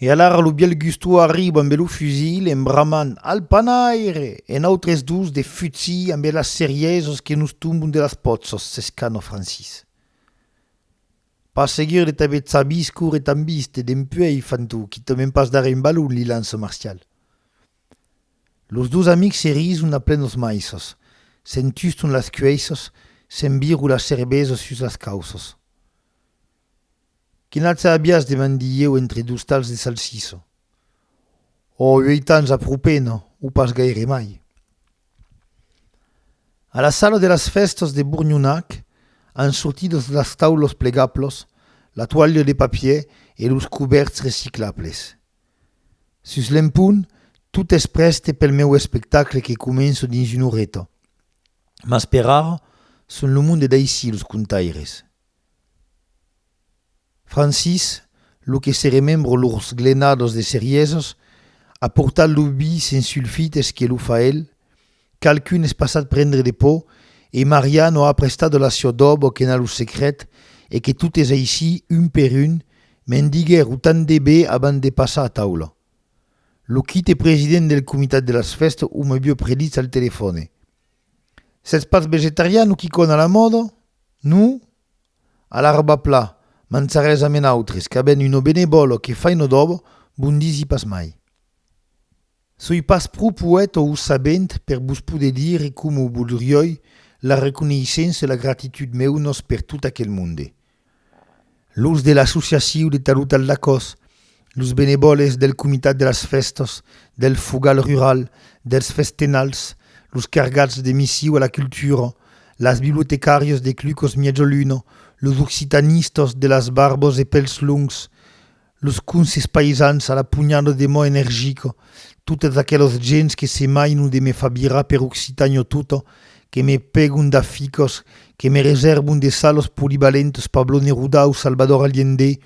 E alara lo bièlh Gusto arriba ambe lo fusil en bramant al panaire e nautres dos de futsi ambe las serièsas que nos tombon de las pòtzas, s'escana Francis. Pas seguir de t'aver tzabís córrer tan vist e dempuèi fan-t'o quitament pas darrèr un balon, li lança Marcial. Los dos amics se rison a plenos maisses, se'n tuston las cueisses, se'n viru las cerbesas sus las cauças. Que n'atz a abias? demandi ieu entre dos talhs de salsissa. Ò, uèit ans a pro pena, o pas gaire mai. A la sala de las fèstas de Bournhonac, an sortidas las taulas plegablas, la toalha de papier e los cubèrts reciclables. Sus l'empont, tot es prèste pel meu espectacle que començo dins una oreta. Mas per ara, son lo monde d'aicí los contaires. Francis, lo que se remembro lors glenadas de cerièsas, a portat lo vi sens sulfites que lo fa el, Qualqu'un es passat prendre de pò e Marià no a prestat la siò dòbo qu'ena lo secret e que totes aicí, un per un, me'n diguèro tant de be abans de passar a taula. Lo quite president del comitat de las fèstes o me vieu predits al telefòne. Sètz pas vegetarian o quicòna a la mòda? No? Alara va pla, manzarètz ame nautres, qu'avèn un obenebòlo que faino dòbo, bon disi pas mai. Soi pas pro poèta o sabent per vos poder dire coma voldrioi la reconeissença e la gratitud meunas per tot aquel monde, los de l'associaciu de Talutal d'Acòs, los benevòles del comitat de las fèstas, del fogal rural, dels festenals, los cargats de missiu a la cultura, las bibliotecàrias de Clucos Miègia Luna, los occitanistas de las barbas e pèls longs, Los conses païsans a la punhada de mò energica, totes aquelas gents que se mainan de me far virar per Occitània tota, que me pègon d'aficas, que me resèrvan de salas polivalentas Pablo Neruda o Salvador Allende,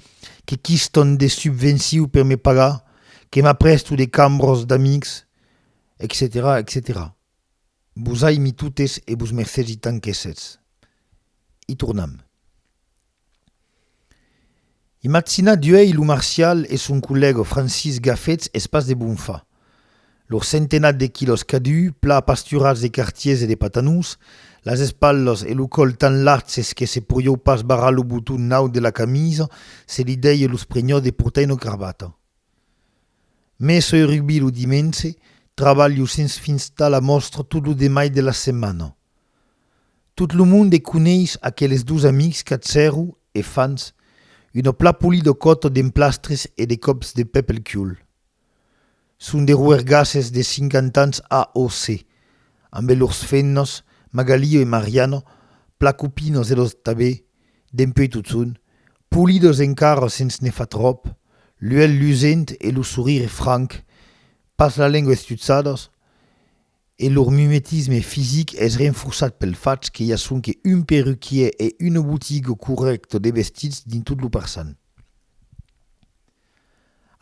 que quistan de subvencions per me pagar, que m'aprèsto de cambras d'amics, etcetèra, etcetèra. Vos aimi totes e vos mercètz i tant qu'èssetz. I tornam. Imatzinatz uèi lo Marcial e son collèga Francis Gafets es pas de bon far. Lor centenat de quilòs cadun, plan apasturats de cartiers e de patanons, las espalhas e lo còl tan lartses que se podieu pas barrar lo boton naut de la camisa, se li dèie lo sprenhòt de portar una cravata. Me soi rugbi lo dimenge, trabalho sens fins tà la mòstra tot lo demai de la setmana. Tot lo monde coneis aqueles dos amics qu'a zèro e fans una plapoli de còto d'emplastres e de còps de pè pel cul. Son de roergasses de cinquantans AOC, ambe lors fennos, Magalio e Mariano, placopinos e los Tabé, dempuèi totson, polidos encara sens ne far tròp, l'uèlh lusent e lo sorire franc, pas la lengua estutzados, E lor mimetisme fisic es renforçat pel fach que i a sonque un perruquièr e una botiga corrècta de vestits dins tot lo parçan.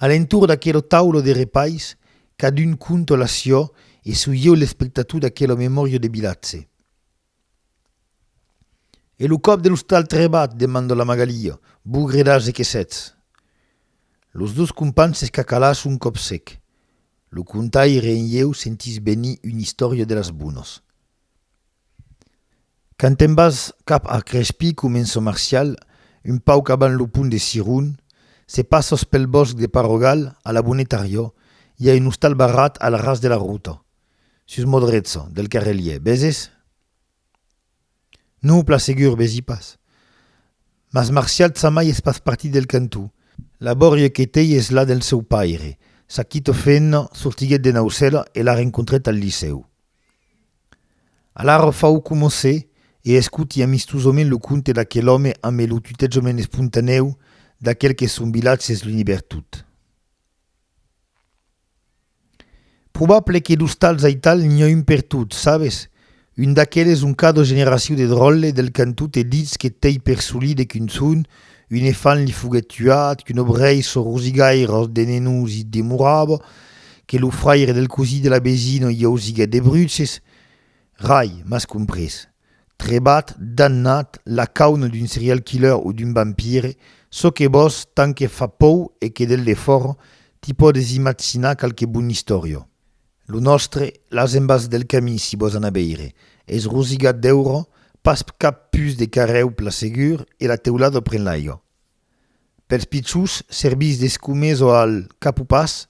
A l'entorn d'aquela taula de repais, cadun conta la siá e soi ieu l'espectator d'aquela memòria de vilatge. E lo còp de l'ostal trebat? demandò la Magalia. Bogredàs e que sètz! Los dos companhs s'escacalàs un còp sec. Lo contaire en ieu sentís benir una istòria de las bonas. Quand te'n vas cap a Crespí, comença Marcial, un pauc abans lo pont de Siron, se passas pel bòsc de Parogal, a la Bonetariò, i a un ostal barrat al ras de la rota. Sus mo drecha, del carrelier, veses? Non, plan segur, vesi pas. Mas Marcial Tsamai es pas partit del cantó. La bòria que tei es la del seu paire. Sa quita fenha sortiguèt de Naucèla e la rencontrèt al licèu. Alara fau coma se, e escoti amistosament lo conte d'aquel òme ambe lo tutejament espontanèu d'aquel que son vilatge es l'unibertot. Probable que d'ostals aital n'i a un per tot, sabes? Un d'aqueles ont cada generacion de dròlle del cantó te ditz que t'ei per solí de qu'un son, un efant li foguèt tuat, qu'un obrèir çò rosigaire de Nenós i demorava, que lo fraire del cosí de la vesina i ausiguèt de bruces. Rai, m'as comprés. Trebat, damnat, lacaune d'un serial killer o d'un vampire, çò que vòs, tant que fa pòu e que del defòra t'i pòdes imatzinar qualque bon istòria. Lo nòstre, las embas del camin si vòs anar veire, es rosigat d'èuro, pas cap pus de carrèu pla segur e la teulada pren l'aiga. pels pichons servís d'escumesa al capopàs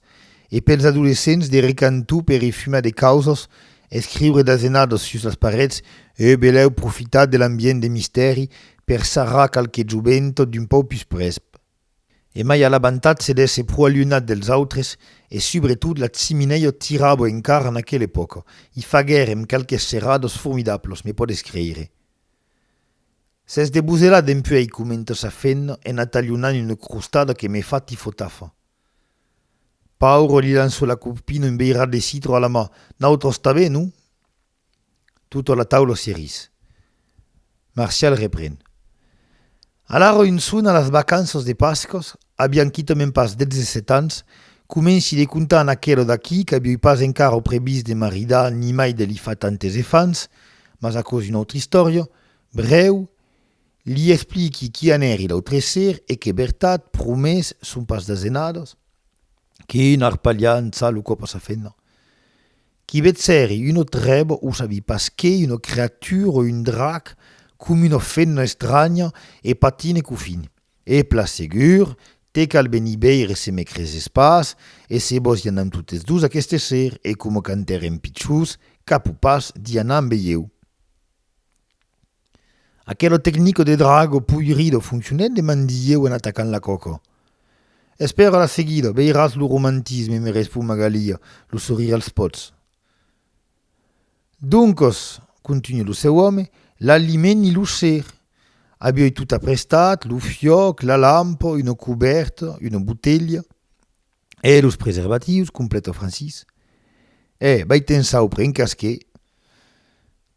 e pels adolescents de recanto per i fumar de causas, escriure d'asenadas sus las parets e belèu profitar de l'ambient de mistèri per sarrar qualque jovent d'un pauc pus prèsp. E mai a l'abantatge d'èsser pro alunhat dels autres e subretot la chiminèia tirava encara en aquela epòca. I faguèrem qualques serradas formidablas, me podes creire. S'es deboselat dempuèi comentas a fen en atalhonant una crostada que me fa tifotafa. Paur li lanço la copina un beirat de citro a la ma, Nautròs tanben, non? Tota la taula se ris. Marcial repren. A la Roinson a las vacanças de Pascas, avián quitament pas 17 ans, comenci de contar an aquelo d'aquí qu'avioi pas encara previst de maridar ni mai de li far tantes efants, mas aquò es una autra istòria, brèu, li expliqui qu'i anèri l'autre ser e qu'es vertat, promés, son pas d'azenadas, quina arpalhança lo còp a sa femna! Qui ved seri uno trèb o sabi pas qué, una creatura o un drac, com una femna estranya, e patine qu'o fini. E plan segur, te cal venir veire se me creses pas, e se vos i anam totes dos aqueste ser, e coma quand èrem pichons, cap o pas, d'i anar ambe ieu. Aquelo tecnico de Drago Puirido foncionèt de mandieu en atacant la coco. Espèra la seguida, veiràs lo romantisme, me respon Magalia, lo sorire als pots. Doncos, continua lo seu òme, l'aliment i lo ser. Avioi tot aprestat, lo fiòc, la lampa, una cubèrta, una botelha. E los preservatius, completa Francis. E, vai te'n saupre, en cas que.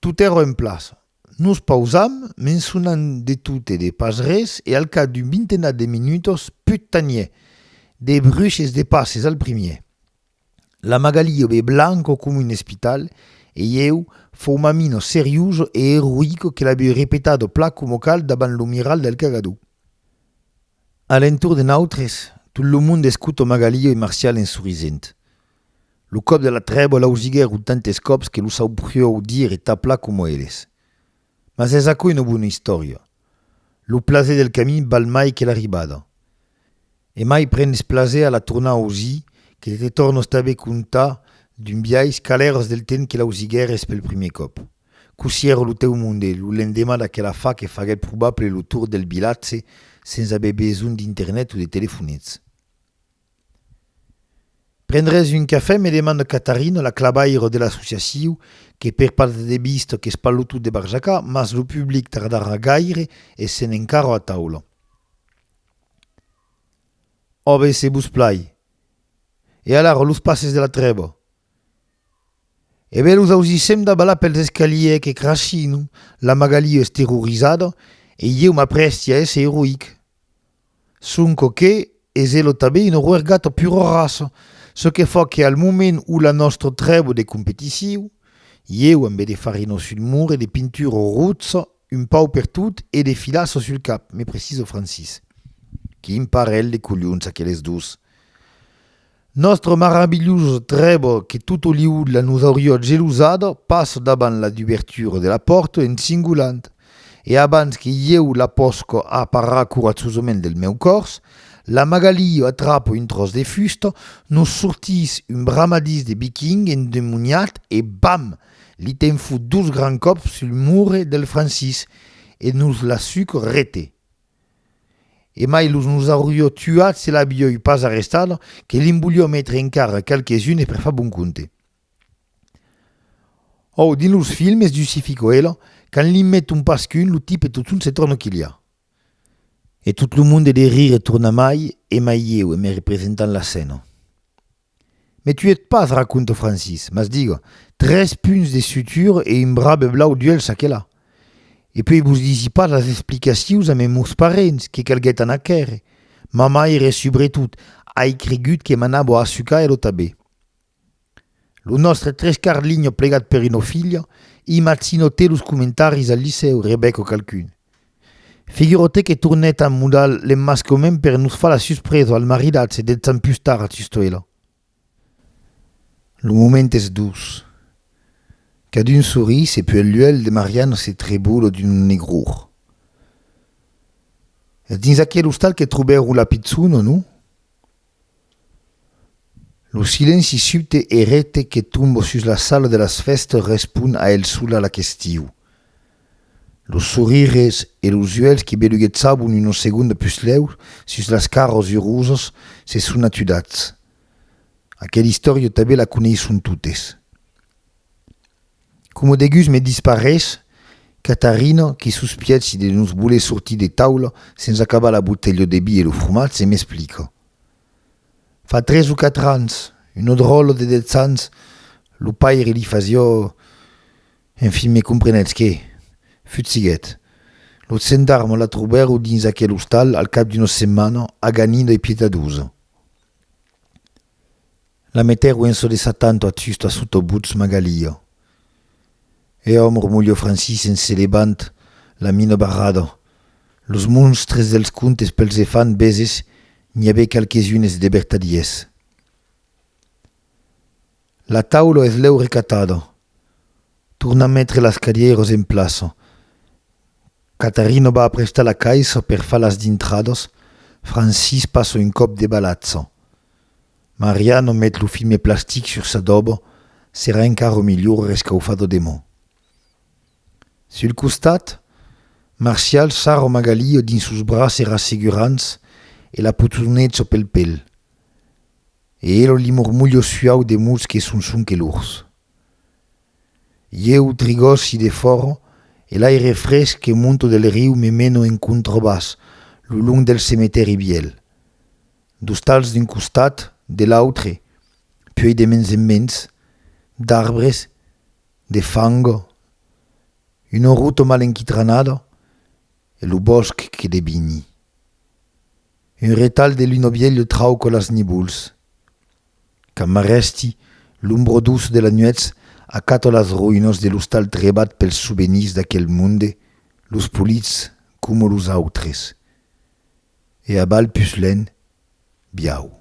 Tot èra en plaça. Nos pausam, mençonant de tot e de pas res, e al cap d'un vintenat de minutas, put tanier, de bruches de passes al primier. La Magalio be blanca coma un espital, e ieu, faumamina seriosa e eroïca que l'aviu repetado plan coma cal davant lo miral del cagador. A l'entorn de nautres, tot lo monde escota Magalio e Marcial en sorrisent. Lo còp de la trèba l'ausiguèr un tantes còps que lo saubriou dire e taplar coma eles. Mas es aquò una bona istòria. Lo plaser del camin val mai que l'arribada. E mai prenes plaser a la tornar ausir que de te tornos tanben contar d'un biais calèrs del temps que l'ausiguères pel primièr còp. Cossí èra lo tèu monde lo lendemà d'aquela fa que faguèt probable lo tour del vilatge sens aver besonh d'internet o de telefonets? Prendrètz un cafè? me demanda Catarina, la clavaire de l'associaciu, que per pas de debista qu'es pas lo tot de barjacar, mas lo public tardarà gaire essent encara a taula. Òbe, se vos plai. E alara, los passes de la trèva? E ben los ausissèm davalar pels escalièr que crashin, la Magalie es terrorizada e ieu m'aprèsti a èsser eroïc. Sonque que es elo tanben una roergata pura raça, çò que fa que al moment où la nòstra trèbo de competiciu, ieu ambe de farina sul mur e de pintura rotsa un pau per tot e de filassa sul cap, me precisa Francis. Quin parelh de colhons aqueles dos! Nòstre maravilhós trèbo que totoliu la nos aurió gelosada pas davant la dubertura de la pòrta en singulant, e abans que ieu la pòsca aparar coratzosament del meu còrs, la Magalí atrapa un tròç de fusta, nos sortís un bramadís de viking endemoniat e bam! li ten fut dos grands còps sul murre del Francís e nos la suc rete. E mai los nos aurió tuat se l'avioi pas arrestat, que li'n volió metre encara qualques unes per far bon compte. Òu, dins los filmes du Sci-Fi Coelho, quand li'n met un pasqu'un, lo tipe totun se torna quilhar. E tot lo monde de rire torna mai e mai ieu e me representant la scèna. Me tuèt pas, raconta Francis, mas diga, tres punts de sutura e un brabe blau d'uèlh çà que là. E puèi vos disi pas las explicacius a meus parents que calguèt anar quèrre. Ma maire, subretot, ai cregut que m'anava a assucar e lo tabè. Lo nòstre trescarlinho plegat per una filha, imagino te los comentaris al licèu, rebec qualqu'un. Figurotè que tornèt a mudar l'emmascament per nos far la suspresa al maridatge deth Sant pus tard a Chistuèla. Lo moment es doç. Cadun sorís e puèi l'uèlh de Mariano se trebola d'un negror. Es dins aquel ostal que trobèro la pichona, non? Lo silenci subte e recte que tomba sus la sala de las fèstas respond a el sola la question. Los sorires e los uèlhs que beluguetzavan una segonda puslèu sus las caras urosas se son atudats. Aquela istòria tanben la coneisson totes. Coma degus me disparés, Catarina, que sospièchi de nos voler sortir de taula sens acabar la botelha de vi e lo fromatge, m'explica. Fa tres o quatre ans, una dròlla de dètz ans, lo paire li fasiá... Enfin, me comprenètz que? Futsiguèt. Los gendarmes la trobèron dins aquel ostal al cap d'una setmana, aganida e pietadosa. La meter uenço de sa tanto ath susto a soto butz Magalio. E òm romolio Francis en se levant la mino barrado. Los monstres dels contes pels e fan beses n'i avè qualques unes de bertadiers. La taulo eth lèu recatado. Torna metre las cadieiros en plaço. Catarino va aprestar la caissa per far las dintrados, Francis passo un còp de balatzo. Mariano met lo filme plastic sur s'adobo, serà encara milhor rescaufado demò. Sul costat, Marcial sarro Magalio dins sos braces rassegurants e la potonezo pel pel. E elo li mormolho suau de mots que son son que lors. Ieu trigòsi de fòro e l'aire fresc que monto del riu me meno en contrabàs lo long del cemetèri vièlh. D'ostals d'un costat, de l'autre, puèi de mens en mens d'arbres de fang, una ruta mal enquitranada e lo bòsc que devini un retalh de luna vièlha trauca las nivols. Quand m'arrèsti, l'ombro douce de la nuètz acato las roïnas de l'ostal trebat pels souvenirs d'aquel monde, los polits coma los autres. E abal pus len, biau.